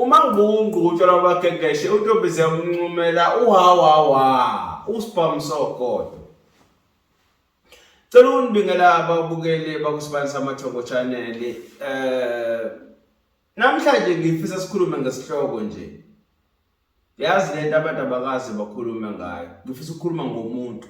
umangqungqutshwa lwabagegeshwe untombize umncumela uhawawa usibhamsogodo cela unibingela ababukeli bakusibani samathongo channel um eh, namhlanje ngifisa sikhulume ngesihloko nje yazi le nto abantu abakazi bakhulume ngayo ngifisa ukukhuluma ngomuntu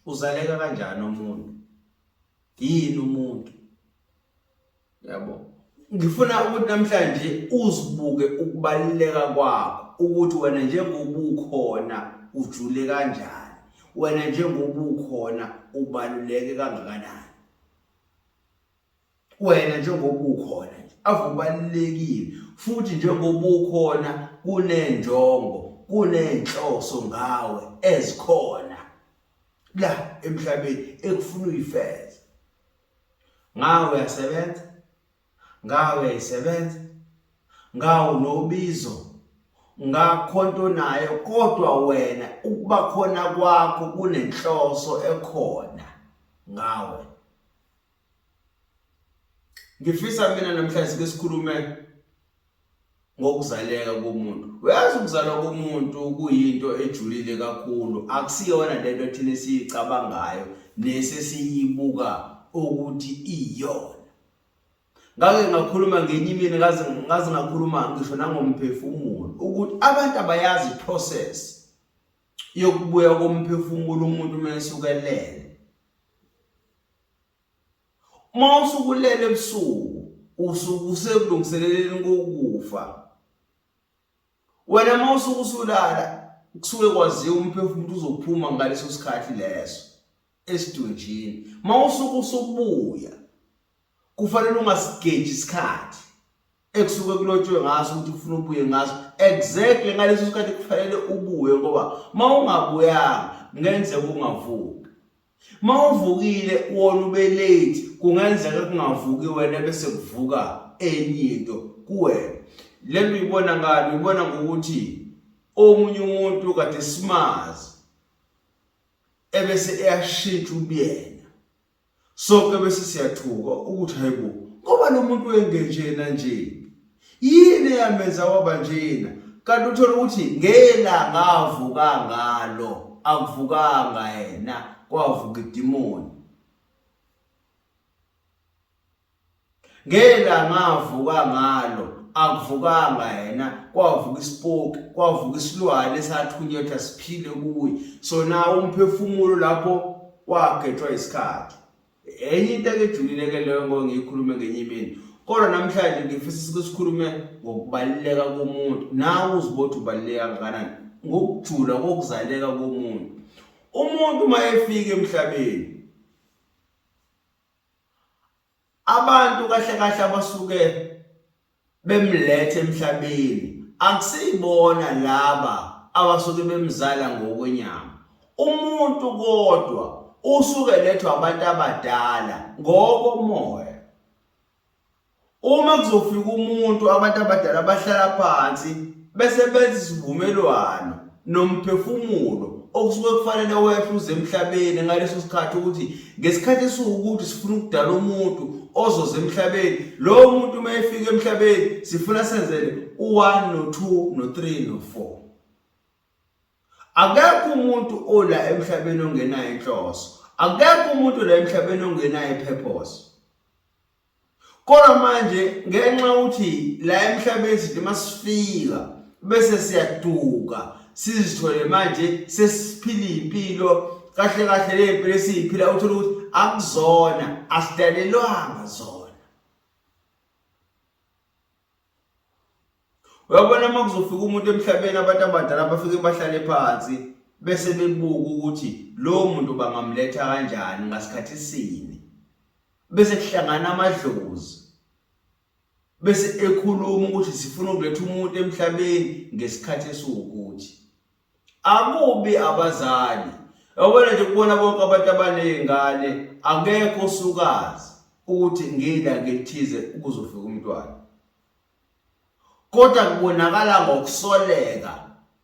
uzaleka kanjani umuntu yini umuntu yabo ngifuna ukuthi namhlanje uzibuke ukubaluleka kwakho ukuthi wena njengoba ukhona ujule kanjani wena njengoba ukhona ubaluleke kangakanani wena njengoba ukhona nje avubalulekile futhi njengoba ukhona kunenjongo kunenhloso ngawe ezikhona la emhlabeni ekufuna uyifeze ngawe uyasebenza ngawe uyayisebenza ngawo nobizo ngakhonto naye kodwa wena ukuba khona kwakho kunenhloso ekhona ngawe ngifisa mina namhlanje sike sikhulume ngokuzaleka komuntu uyazi ukuzalwa komuntu kuyinto ejulile kakhulu akusiyona lento thina esiyicabangayo nesesiyibuka ukuthi iyona ngake ngakhuluma ngenye imini ngaze ngaze ngakhuluma ngisho nangomphefumulo ukuthi abantu abayazi process yokubuya komphefumulo umuntu uma esukelele uma usukulele ebusuku usuke usekulungiseleleni kokufa wena uma usuke usulala kusuke kwaziwa umphefumulo uzophuma ngaleso sikhathi leso esidunjini uma usuke usubuya kufanele ungasigeji isikhathi ekusuke kulotshwe ngaso ukuthi kufuna ubuye ngaso exactly ngaleso sikhathi kufanele ubuye ngoba uma ungabuyanga kungenzeka ungavuki uma uvukile wona ube late kungenzeka kungavuki wena bese kuvuka enye into kuwena le nto uyibona ngani uyibona ngokuthi omunye umuntu kade simazi ebese eyashintsha ubuyena Sonke bese siyathuka ukuthi hayibo ngoba lo muntu engenjena nje. Yini eyamenza waba njena? Kanti uthola ukuthi ngelanga avuka ngalo akuvukanga yena kwavuka idimoni. ngelanga avuka ngalo akuvukanga yena kwavuka isipoki kwavuka isilwane esathunyetha siphile kuye so na umphefumulo lapho wagethwa isikhathi enye into ekejulile ke leyo ngo ngiyikhulume ngenye imini kodwa namhlanje ngifisa ukuthi sikhulume ngokubaluleka komuntu nawe uzibothi ubaluleka kangakanani ngokujula kokuzaleka komuntu umuntu uma efika emhlabeni abantu kahle kahle abasuke bemlethe emhlabeni akusiyibona laba abasuke bemzala ngokwenyama umuntu kodwa usuke lethwa abantu abadala ngokomoya Uma kuzofika umuntu abantu abadala bahlala phansi bese benza isivumelwano nomphefumulo okusuke kufanele wehle uze emhlabeni ngaleso sikhathi ukuthi ngesikhathi esiwukuthi sifuna ukudala umuntu ozoze emhlabeni lowo muntu uma efika emhlabeni sifuna senzele u-1 no-2 no-3 no-4 Akekho umuntu ola emhlabeni ongenayo inhloso. Akekho umuntu la emhlabeni ongenayo ipurpose. Kodwa manje ngenxa ukuthi la emhlabeni sithi masifika bese siyaduka sizithole manje sesiphila impilo kahle kahle lempilo esiyiphila uthola ukuthi akuzona asidalelwanga zona uyabona uma kuzofika umuntu emhlabeni abantu abadala bafike bahlale phansi bese bebuka ukuthi lowo muntu bangamletha kanjani ngasikhathi sini bese kuhlangana amadlozi bese ekhuluma ukuthi sifuna ukuletha umuntu emhlabeni ngesikhathi esiwukuthi akubi abazali yabona nje kubona bonke abantu abanezingane akekho osukazi ukuthi ngila ngithize ukuzofika umntwana kodwa kubonakala ngokusoleka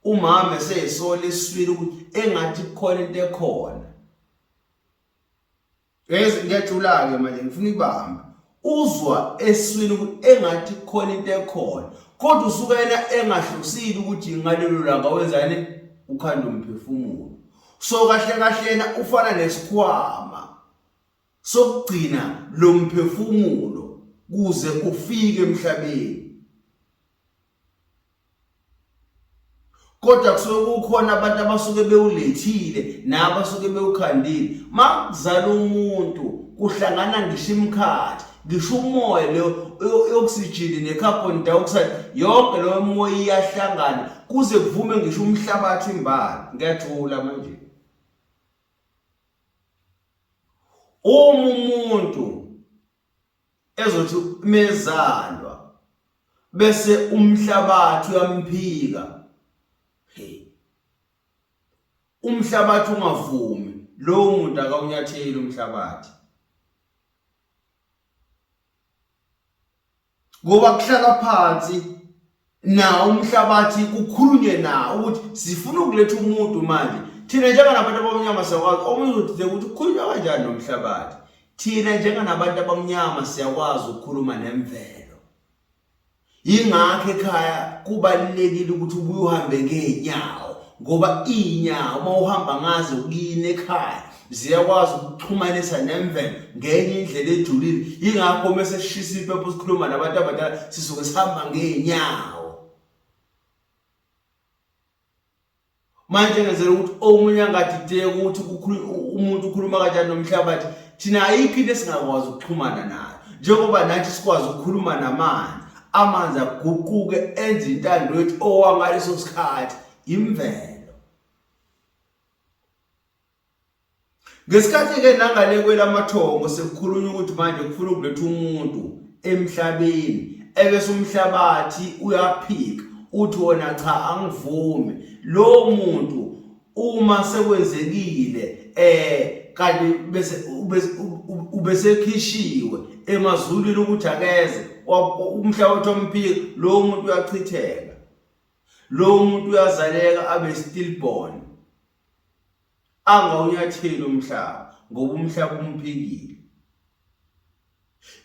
umama eseyisola iswili ukuthi engathi kukhona into ekhona Yazi ngiyajula-ke manje ngifuna ibamba uzwa eswini ukuthi engathi khona into ekhona kodwa usuke yena engahlosile ukuthi ngalelo langa wenzani ukhanda umphefumulo so kahle kahle yena ufana nesikhwama sokugcina lo mphefumulo kuze ufike emhlabeni kodwa kusuke kukhona abantu abasuke bewulethile nabasuke bewukhandile makuzala umuntu kuhlangana ngisho imkhathi ngisho umoya lo oxygen necarbon dioxide yonke lo moya iyahlangana kuze kuvume ngisho umhlabathi imbala ngiyajula manje uma umuntu ezothi mezalwa bese umhlabathi uyamphika hey umhlabathi ungavumi lowo muntu akawunyatheli umhlabathi ngoba kuhlalwa phansi nawo umhlabathi kukhulunywe nawo ukuthi sifuna ukuletha umuntu manje thina njenganabantu abamnyama siyakwazi omunye uzothi ukuthi kukhulunywa kanjani nomhlabathi thina njenganabantu abamnyama siyakwazi ukukhuluma nemvelo yingakho ekhaya kubalulekile ukuthi ubuye uhambe ngeenyawo ngoba iy'nyawo uma uhamba ngazo kuyini ekhaya ziyakwazi ukuxhumanisa nemvelo ngenye indlela ejulile yingakho uma seshisa impepho sikhuluma nabantu abadala sisuke sihamba ngeenyawo manje ngenzela ukuthi omunye angadideki ukuthi umuntu ukhuluma kanjani nomhlabathi thina ayikho into esingakwazi ukuxhumana nayo njengoba nathi sikwazi ukukhuluma namanzi amanzi aguquke enze intando yethu owangaleso sikhathi imvelo Ngesikhathi-ke nangale kwelamathongo sekukhulunywa ukuthi manje kufuna ukuletha umuntu emhlabeni ebese umhlabathi uyaphika uthi wona cha angivumi lowo muntu uma sekwenzekile eh kanti bese ubesekhishiwe emazulwini ukuthi akeze umhlabathi omphika lowo muntu uyachitheka lowo muntu uyazaleka abe stillborn angawunyatheli umhlaba ngoba umhlaba umphikile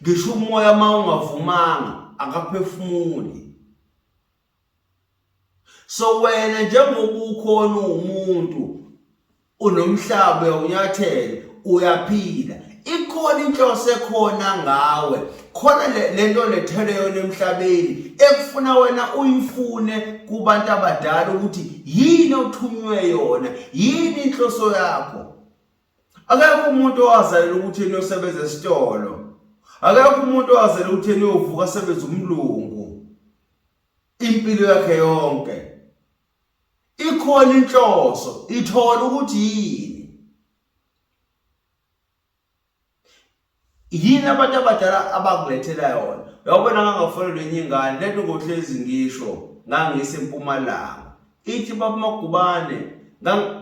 ngisho umoya uma ungavumanga akaphefumuli so wena njengoba ukhona uwumuntu unomhlaba uyawunyathela uyaphila ikhona inhloso ekhona ngawe khona lento lethele yona emhlabeni ekufuna wena uyifune kubantu abadala ukuthi yini othunywe yona yini inhloso yakho akekho umuntu owazalela ukuthi yena usebenza esitolo akekho umuntu owazalela ukuthi yena uyovuka asebenza umlungu impilo yakhe yonke ikhona inhloso ithola ukuthi yini yini abantu abadala abakulethela yona yawubona ngangafonelwa enye ingane lento ngohlezi ngisho ngangise mpumalanga ithi babamagubane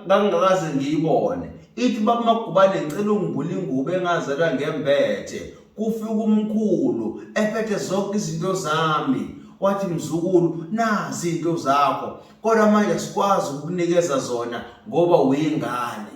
ngangingakaze ngiyibone ithi babamagubane ngicela ungibula ingubo engazela ngembethe kufika umkhulu ephethe zonke izinto zami wathi mzukulu nazi into zakho kodwa manje sikwazi ukukunikeza zona ngoba uyingane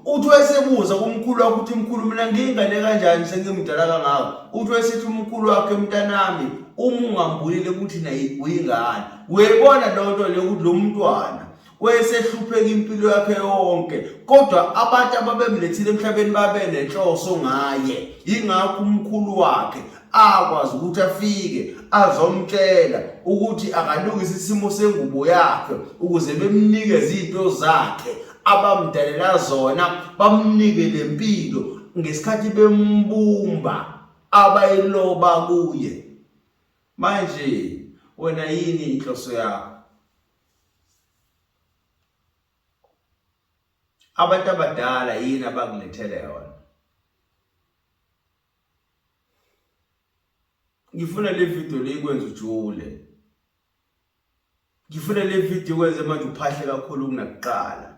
uthi wayesebuza kumkhulu wakhe ukuthi mkhulu mina ngiyingane kanjani sengimdala kangako uthi wayesethi umkhulu wakhe mntanami uma ungambulile ukuthi naye uyingane uyayibona loo nto leyo ukuthi lo mntwana wayesehlupheka impilo yakhe yonke kodwa abantu ababemlethile emhlabeni babenenhloso ngaye yingakho umkhulu wakhe akwazi ukuthi afike azomtshela ukuthi akalungise isimo sengubo yakhe ukuze bemnike izinto zakhe abamdalela zona bamnike lempilo ngesikhathi bembumba abayiloba kuye manje wena yini inhloso yakho abantu abadala yini abakulethele yona ngifuna le video le ikwenza ujule ngifuna le video ikwenze manje uphahle kakhulu kunakuqala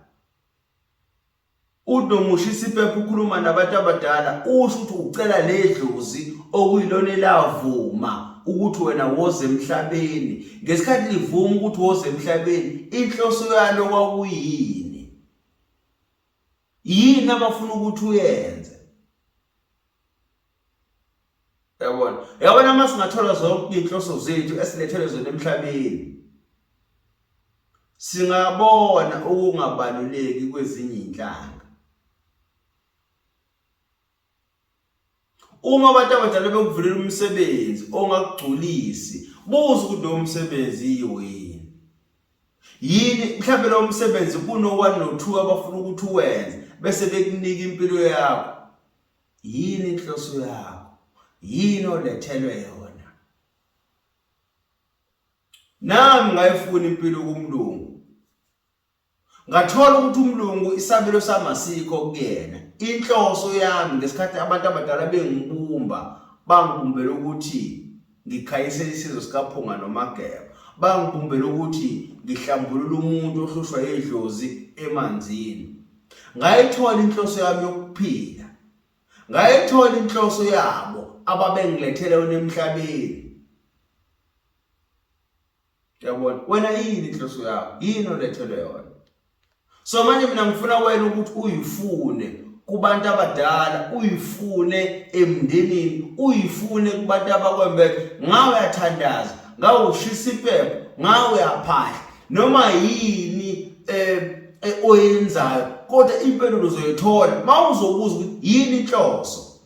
unomusha isiphepha ukhuluma nabantu abadala usho ukuthi ucela le dlozi okuyilona elavuma ukuthi wena woze emhlabeni ngesikhathi livuma ukuthi woze emhlabeni inhloso yalo kwakuyini yini abafuna ukuthi uyenze yabona yabona uma singathola zonke iy'nhloso zethu esilethelwe zona emhlabeni singabona ukungabaluleki kwezinye iy'nhlanga uma abantu abadala bekuvulela umsebenzi ongakugculisi buza ukuthi lowo msebenzi yiwo yini yini mhlawumbe lowo msebenzi kuno-one no-two abafuna ukuthi uwenze bese bekunika impilo yakho yini inhloso yakho yini olethelwe yona nami ngayifuna impilo kumlungu ngathola ukuthi umlungu isabelo sami asikho kuyena inhloso yami ngesikhathi abantu abadala bengibumba bangibumbela ukuthi ngikhanyisele isizwe sikaphunga nomageba bangibumbela ukuthi ngihlambulule umuntu ohlushwa yidlozi emanzini ngayithola inhloso yami yokuphila ngayithola inhloso yabo ababengilethele wena emhlabeni Yabona wena yini inhloso yakho? Yini olethelwe yona? So manje mina ngifuna wena ukuthi uyifune kubantu abadala, uyifune emndenini, uyifune kubantu abakwembeke. Ngawe uyathandaza, ngawe ushisa impepho, ngawe uyaphahla. Noma yini eh, eh oyenzayo kodwa impendulo uzoyithola mawuzobuza ukuthi yini inhloso.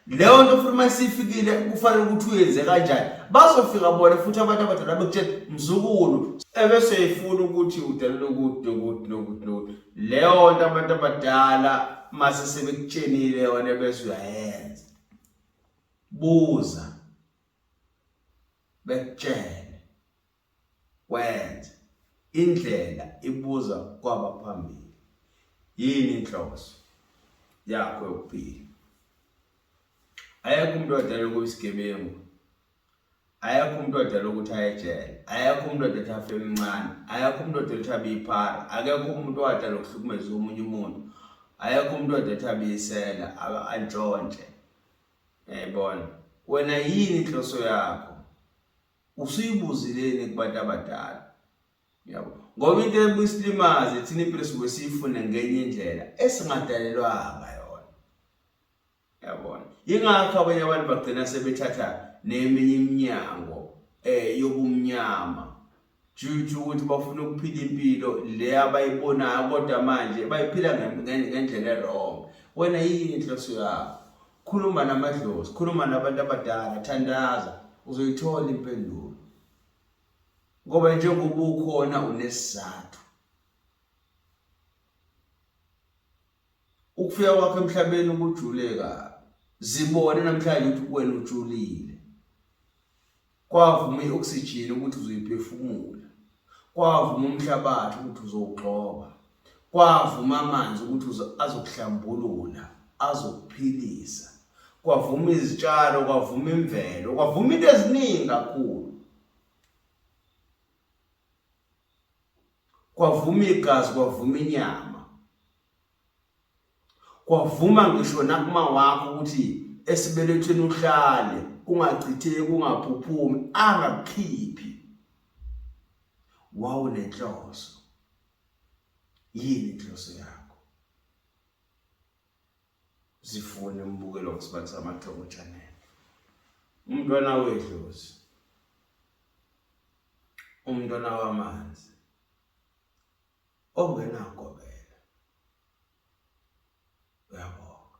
leyo nto futhi uma isifikile kufanele ukuthi uyenze kanjani bazofika bona futhi abantu abadala bekutshela mzukulu ebese ifuna ukuthi udalele ukuthi nokuthi nokuthi nokuthi leyo nto abantu abadala mase sebekutshenile yona bese uyayenza buza bekutshele Kwenze. Indlela ibuza kwabaphambili. Yini inhloso yakho yokuphila? Ayekho umuntu odala ukuba isigebengu. Ayekho umuntu odala ukuthi aye ejele. Ayekho umuntu odala ukuthi afe emncane. Ayekho umuntu odala ukuthi abe iphara. Akekho umuntu odala ukuhlukumeza omunye umuntu. Ayekho umuntu odala ukuthi abe isela, antshontshe. Yayibona. Wena yini inhloso yakho? usuyibuzileni kubantu abadala yabo ngoba into ebuyisilimaze thina impilo suke siyifune ngenye indlela esingadalelwanga yona yabona ingakho abanye abantu bagcina sebethatha neminye iminyango eh yobumnyama juju ukuthi bafuna ukuphila impilo le abayibonayo kodwa manje bayiphila ngendlela erong wena yini inhloso yakho Khuluma namadlozi, khuluma nabantu abadala, thandaza, uzoyithola impendulo. Ngoba njengoba ukhona unesizathu. Ukufika kwakho emhlabeni ukujuleka zibone namhlanje ukuthi wena ujulile. Kwavuma i-oxygen ukuthi uzoyiphefumula. Kwavuma umhlabathi ukuthi uzowugxoba. Kwavuma amanzi ukuthi azokuhlambulula, azokuphilisa. Kwavuma izitshalo, kwavuma imvelo, kwavuma into eziningi kakhulu. kwavuma igazi kwavuma inyama kwavuma ngisho nakuma wakho ukuthi esibelethweni uhlale ungachitheki ungaphuphumi angakukhiphi wawunenhloso yini inhloso yakho zifune umbukelo wesibani samathongo channel umntwana wedlozi umntwana wamanzi ongenangobela. Uyabonga.